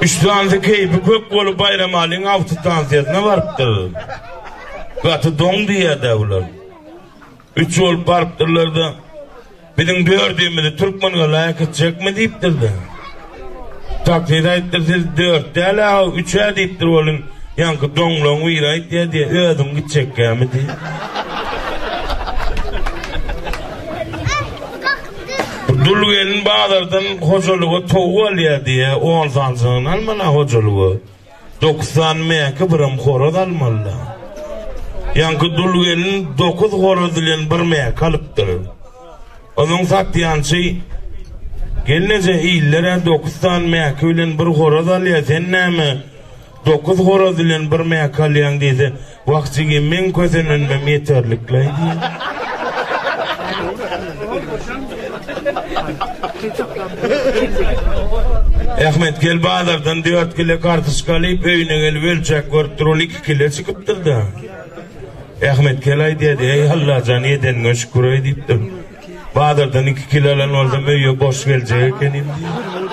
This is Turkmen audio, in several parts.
Üstüňde keýpi kök bolup Baýramalyň awtostansiýasyna barypdyr. Gaty doň diýýärdi olar. Üç bolup barypdyrlar-da, biziň dördümizi türkmen galaýak etjekmi diýipdir-de. Takside aýtdyr, siz dört däl-ä, üç-ä diýipdir olim. Ýaňky doňlaň biri aýtýar diýe, özüň gitjekkämi diýip. Dul gelin bazardan hojalyga towuk alýar diýýä, on sanjygyny alman-a hojalyga. Dokuz sany mäki, birem horaz almaly-da. Ýaňky dul gelin dokuz horaz bilen bir mäki alypdyr. Onuň satýançy, Gelneje, iller-ä dokuz sany mäki bilen bir horaz alýar, sen näme, Dokuz horaz bilen bir mäki alýaň diýse, Wah jigim, meň kösenenmem ýeterlikleý diýýär. Ahmet, gel bazardan dört kile kartoşka alyp, öýüne gelip ölçäp görüp dur, ol iki kile çykypdyr-da. Ahmet gel aýdýardy, Eý, Allajan, edeniňe şükür-eý diýipdir. Bazardan iki kile alan bolsam, öýe boş geljek ekenim diýýär.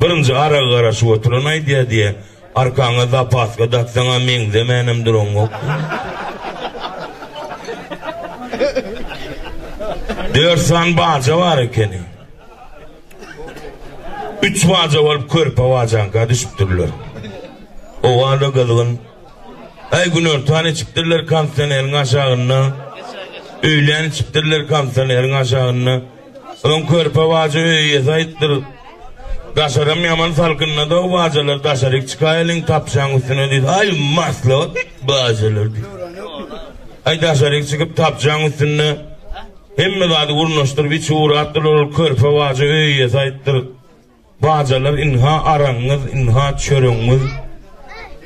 Birinji aragy garaşyp oturan aýdýar diýýär, Arkaňa zapaska daksaň-a meňzemänem duraňok. Dört san baja bar ekeni. Üç baja bolup körpe bajaňka düşüpdirler. Owal-da gyzgyn. Aý günortan içipdirler kondisioneriň aşagynda. Öýlän içipdirler kondisioneriň aşagynda. Öň körpe baja öý eýesi aýypdyr. Daşaram ýaman salkynda-da bajalar daşaryk çykaýalyň tapjaň üstüne diýdi. Aý, maslahat bajalar diýdi. Aý daşaryk çykyp tapjaň üstünde hemme zady gurnaşdyryp içi uratdylar ol körpe baja öý eýesi aýypdyr. Bajalar ynha aragyňyz ynha çöregiňiz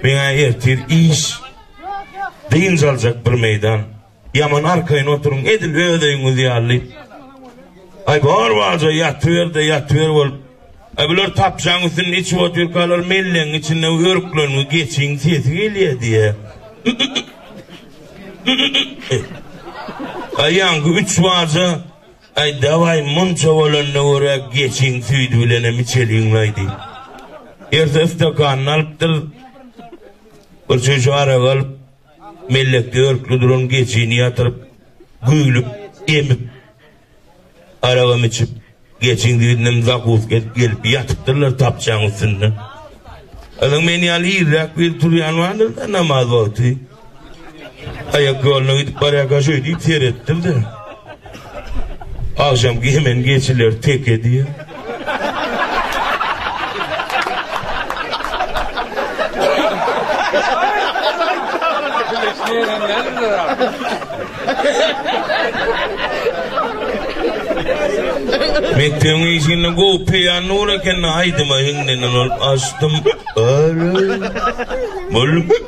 meňä ertir iş dynç aljak bir meýdan ýaman arkaýyn oturyň edil öz öýüňiz ýaly aý bar baja ýatyberde ýatyber bolup aý bular tapjaň üstünde içip otyrkalar mellegiň içinde örkleriňi geçiň sesi gelýä diýä aýaňky üç baja Aý dawaý munça bolanda görä geçiň süýdi bilenem içeliňlaý diýip. Ertesi stakanyny alypdyr. Bir çüýşe arak alyp, mellekde örkli duran geçini ýatyryp, güýlüp, emip, aragam içip, geçiň süýdünem zakuska edip gelip ýatypdyrlar tapçaň üstünde. Azyň men ýaly irräk biri turýan bardyr-da namaz wagty. Aýak ýoluna gidip barýar gaşoý diýip seretdim-de. Agşam gemen geçiler teke diýýär. Mektebiň işini gowy peýan nur eken aýdyma hiňlenen olup açdym. Mol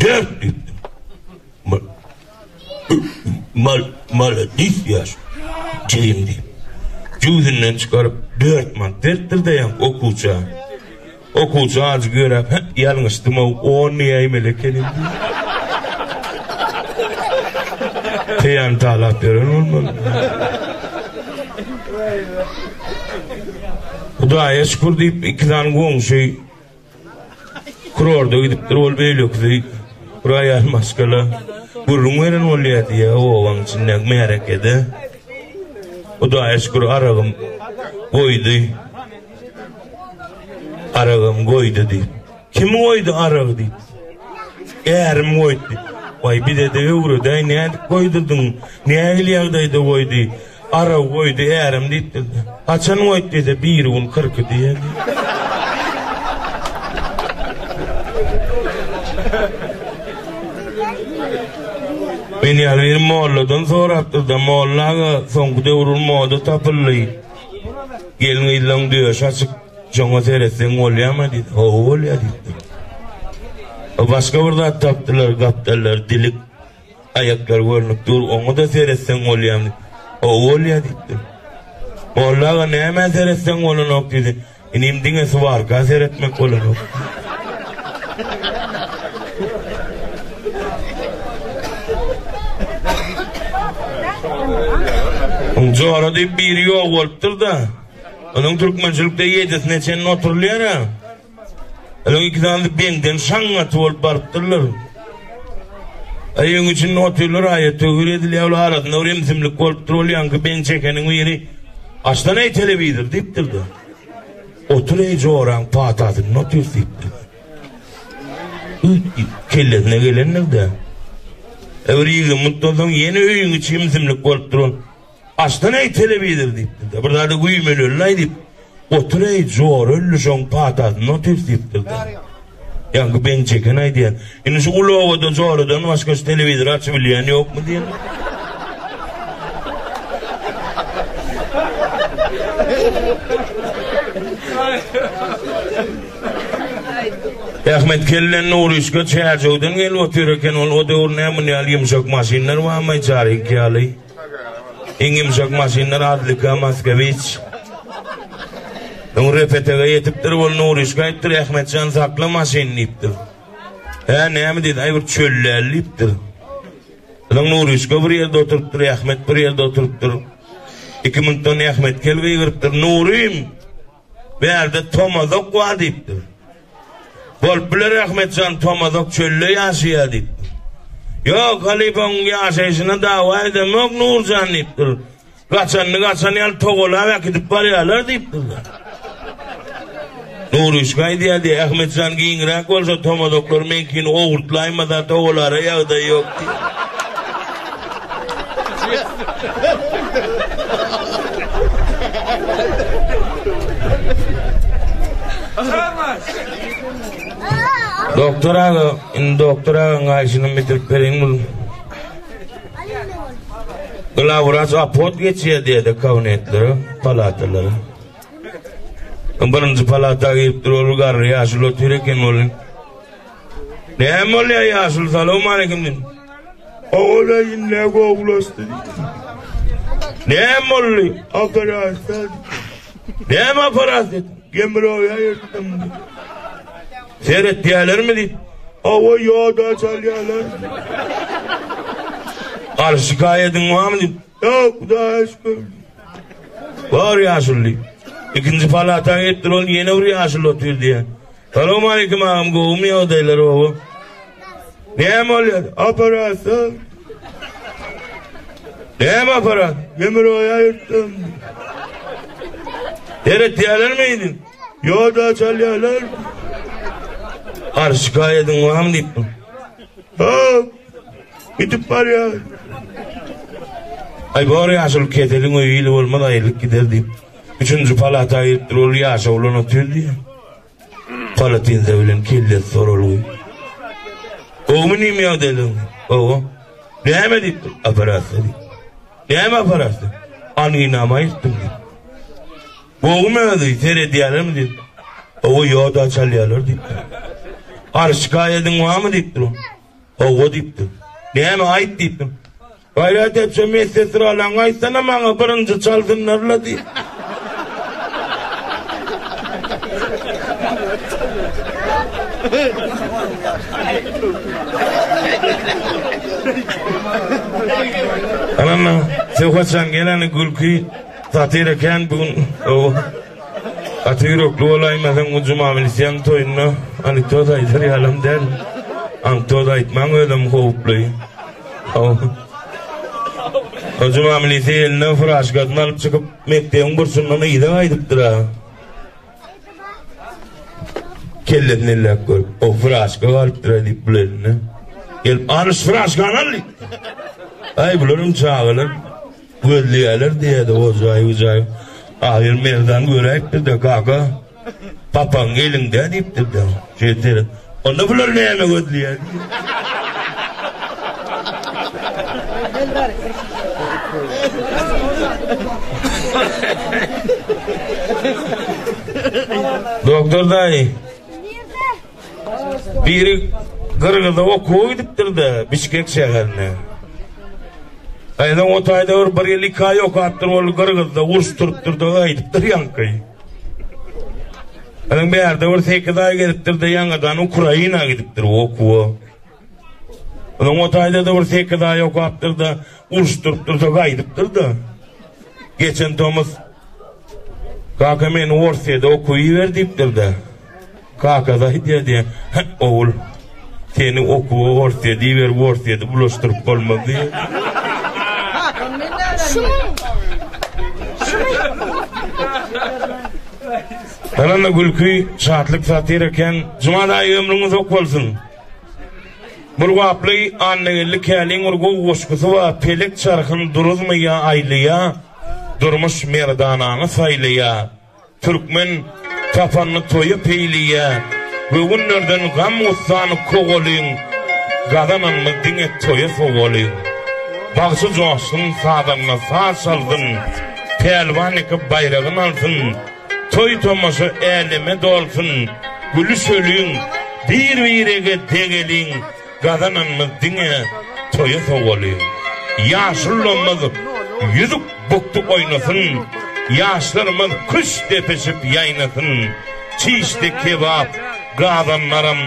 Dört düwdüm. Ma, mal, maladis ýaş. Jeýim diýip. Jüwzünden çykaryp, dört man beripdir deýän okuwça. Okuwça ajy görä, hä, ýalňyşdym-ow, on näýmeli ekenim diýip. Peýan talap beren bolmaly. Hudaýa şükür diýip, iki sany goňşy Kurorda gidipdir ol beýlekisi roýal maşgala gürrüň beren bolýar diýýä obaň içindäki märekede. Hudaýa şükür aragym goýdy. Aragym goýdy diýip. Kim goýdy arag diýip. Ärim goýdy. Waý bize-de öwredäý nädip goýdurdyň? Nähili ýagdaýda goýdy? Araw goýdy ärem diýip bildi. Haçan goýdy diýse biri gün kyrky diýen. Men ýaly bir molladan sorapdyr-da, molla aga soňky döwür moda tapyldy. Gelin gyzlaň döş açyk, joňa seretseň bolýarmy diýdi. Hawa bolýar diýdi. Başga bir zat tapdylar, gapdallar dilik. Aýaklar görnüp dur, oňa-da seretseň bolýar. Gowy bolýar diýipdir. Molla aga nämä seretseň bolanok diýdi. Inim diňe suwarka seretmek bolanok. Jora diýip biri ýok bolupdyr-da. Onuň türkmençilikde ýedisine çenli oturylýar-a. Olar iki sany beňden şaňňaty bolup barypdyrlar. Aýyň içinde otyrlar, aýa töwir edilýär, olar arasynda bir imsimlik bolupdyr, ol ýaňky beň çekeniň biri, Açdan eý telewizor diýipdir-de. Otur eý joraň patasynda otur diýipdir. Kellesine gelendir-de. Öwri ýygy mutdan soň ýene öýüň içi imsimlik bolupdyr ol. Açdan eý telewizor diýipdir-de, bir zada güýmenelilaý diýip, otur eý jor ölli şoň patasynda otyrys diýipdir-de. Ýa bu beňçi eken aýdýan. Indi şu uly obada joradan başga şu telewizor açyp bilýän ýokmy diýen. Ahmet kellen Nurişka çäjewden gelip otyr eken ol o döwür näme ýaly ýumşak maşynlar barmy çary iki ýaly. Iň ýumşak maşyndan Adlika Maskewiç. Öň Repetege ýetipdir, ol Nuryşka aýypdyr, Ahmetjan sakla maşyny diýipdir. Hä, näme diýdi, aý bir çöllel diýipdir. Öň Nuryşka bir ýerde oturypdyr, Ahmet bir ýerde oturypdyr. Iki minutdan Ahmet kel gygyrypdyr, Nurym! Bärde tomazok bar diýipdir. Bolup biler Ahmetjan tomazok çölde ýaşaýar diýipdir. Ýok, halypaň ýaşaýşyna dawa edemok Nurjan diýipdir. Gaçanyny gaçan ýaly togalap äkidip barýarlar diýipdirler. Nurüşka aýdýardy, Ahmetjan giňräk bolsa tomazoklary meňkini owurtlaýmasa togalara ýagdaýy ýok diýip. Doktor aga, indi doktor aga gaýşyny bitirip beriň bul. Glawraç apot geçýär diýdi kabinetlere, palatalara. Birinji palata girip dur, ol garry ýaşuly otyr eken ol. Näme bolýar ýaşuly salam aleýkum diýdim. Ogula ýine gowulaşdy. Näme boldy? Operasiýa. Näme operasiýa? Gemroýa ýetdim. Seret diýerlermi diýip. Awa ýoda çalýarlar. Garşy gaýadyň wamy diýip. Ýok, Hudaýa şükür. Bar ýaşuly. Ikinji palata gitdi, ol ýene bir ýaşuly otyr diýýär. Salowmaleýkim agam, gowumy ýagdaýlar oba? Näme bolýar? Operasiýa. Näme aparat? Demir oya yırttım. Deret diyalar mıydı? Yo da çalyalar. Ar şikayetin var mı deyip. Hop. Gidip barýar. Aý bor ýaşuly keseliň öýi ili bolmaz aýrylyp gider diýip. Üçünji palata giripdir ol ýaşa bolan otyr diýýär. Palatinze bilen kellesi soralgy. Gowmy nim ýagdaýlaň? Gowy. Näme diýipdir? Operasiýa diýip. Näme operasiýa? Anginamy aýyrtdym diýip. Gowmy özi seredýärlermi diýip. Gowy ýoda çalýarlar diýipdir. Arşykaýadyň barmy diýipdir. Hawa diýipdim. Näme aýt diýipdim. Gaýrat etjä medsesralaňa aýtsana maňa birinji çalsynlarla diýip. Anam söhbetjan geleni gülki satira kän bugün. Gaty ýürekli bolaýmasaň bu juma bilseň toýunda anekdot aýdar ýalam däl. Ankdot aýtmaň özem howply. O juma milise eline furaşkasyny alyp çykyp mekdebiň burçundan yza gaýdypdyr-a. Kellesini elläp görüp, o furaşka galypdyr-a diýip bul eline. Gelip, alyş furaşkany al diýip. Aý bularam çagalar. Gözleýärler diýýärdi ojaý-ujaý. Ahyr merdan göräýipdir-de, Gaga, papaň eliňde diýipdir-de. Şeýtse, onda bular näme gözleýär diýip. Doktor daýy. Biri Gyrgyza okuwa gidipdir-de, Bişkek şäherine. Gaýynyň o taýda bir bir ýyl iki aý okapdyr, ol Gyrgyzda uruş turupdyr-da, gaýdypdyr ýaňky. Ýöne bärde bir sekiz aý gezipdir-de, ýaňadan Ukraina gidipdir okuwa. Onuň o taýda-da bir sekiz aý okapdyr-da, uruşdyryp dursa gaýdypdyr-da. Geçen tomus Kaka meni Orsýede okuw iber diýipdir-de. Kaka da aýdýar diýe, Hä, ogul, seni okuwa Orsýede iberip, Orsýede bulaşdyryp bolmaz diýe. Ynamly gülki, şatlyk satyr eken. Jumal aýy ömrüňiz ok bolsun. Bulgaply Annageldi Käliň bir gowy goşgusy bar, Pelek çarhyň duruzmy ýa aýlaýa, Durmuş merdanaňy saýlaýa. Türkmen tapanny toýa peýleýä, Göwünlerden gam-gussan kowalyň, Gazananmy diňe toýa sowalyň. Bagşy joşsun, sazanda saz çalsyn, Pälwan ýeke baýragyn alsyn. Toý-tomaşa äleme dolsun, gülüşeliň, bir-birege degeliň, gazananymyz diňe toýa sowalyň. Ýaşulamyz ýüzük bukdy oýnasyn, ýaşlarymyz küşt depişip ýaýnasyn, çişdi kebap, gazanlaram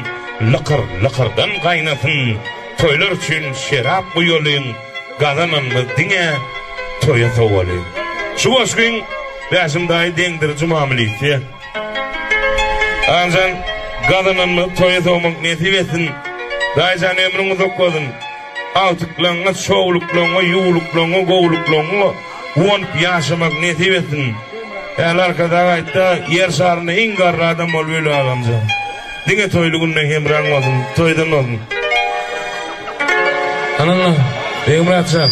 lykyr-lykyrdan gaýnasyn, toýlar üçin şerap guýalyň, gazananymyz diňe toýa sowalyň. Şu goşgyň. Bäşim daýy deňdir juma milisiýa. Agamjan gazananymyzy toýa sowmak nesip etsin. Daýyjan ömrüň uzak bolsun. Agtyklaňňa, şowluklaňňa, ýuwluklaňňa, gowluklaňňa guwanyp ýaşamak nesip etsin. Äli Arkadag aýtdy, Ýer şarynda iň garry adam bolup öl agamjan. Diňe toýly günde hemraň bolsun, toýdan bolsun. Ananna, Begmyratjan.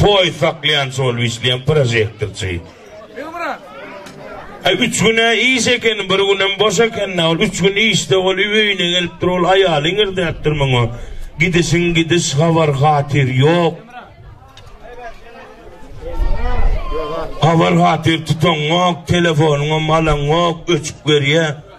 Poýuz saklaýançy bolup işleýän prožektorçy. Aý üç güne iş eken, bir günem boş eken-dä, ol üç gün işde bol, öýüne gelip dur, ol aýaly iňirdäpdir muňa. Gidişiň gidiş, habar-hatyr ýok. Habar-hatyr tutaňňok, telefonyňam alaňňok, öçüp görýär.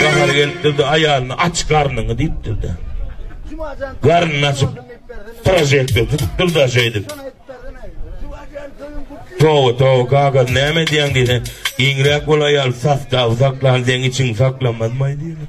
Bahar gelipdir-de, aýalyna aç garnyňy diýipdir-de. Garnyny açyp, prožektor tutupdyr-da şeýdip. Towa, towa, kaka, näme edýäň diýse, giňräk bol aýal, sastawsaklan, deň içiňi saklamazmaý diýipdir.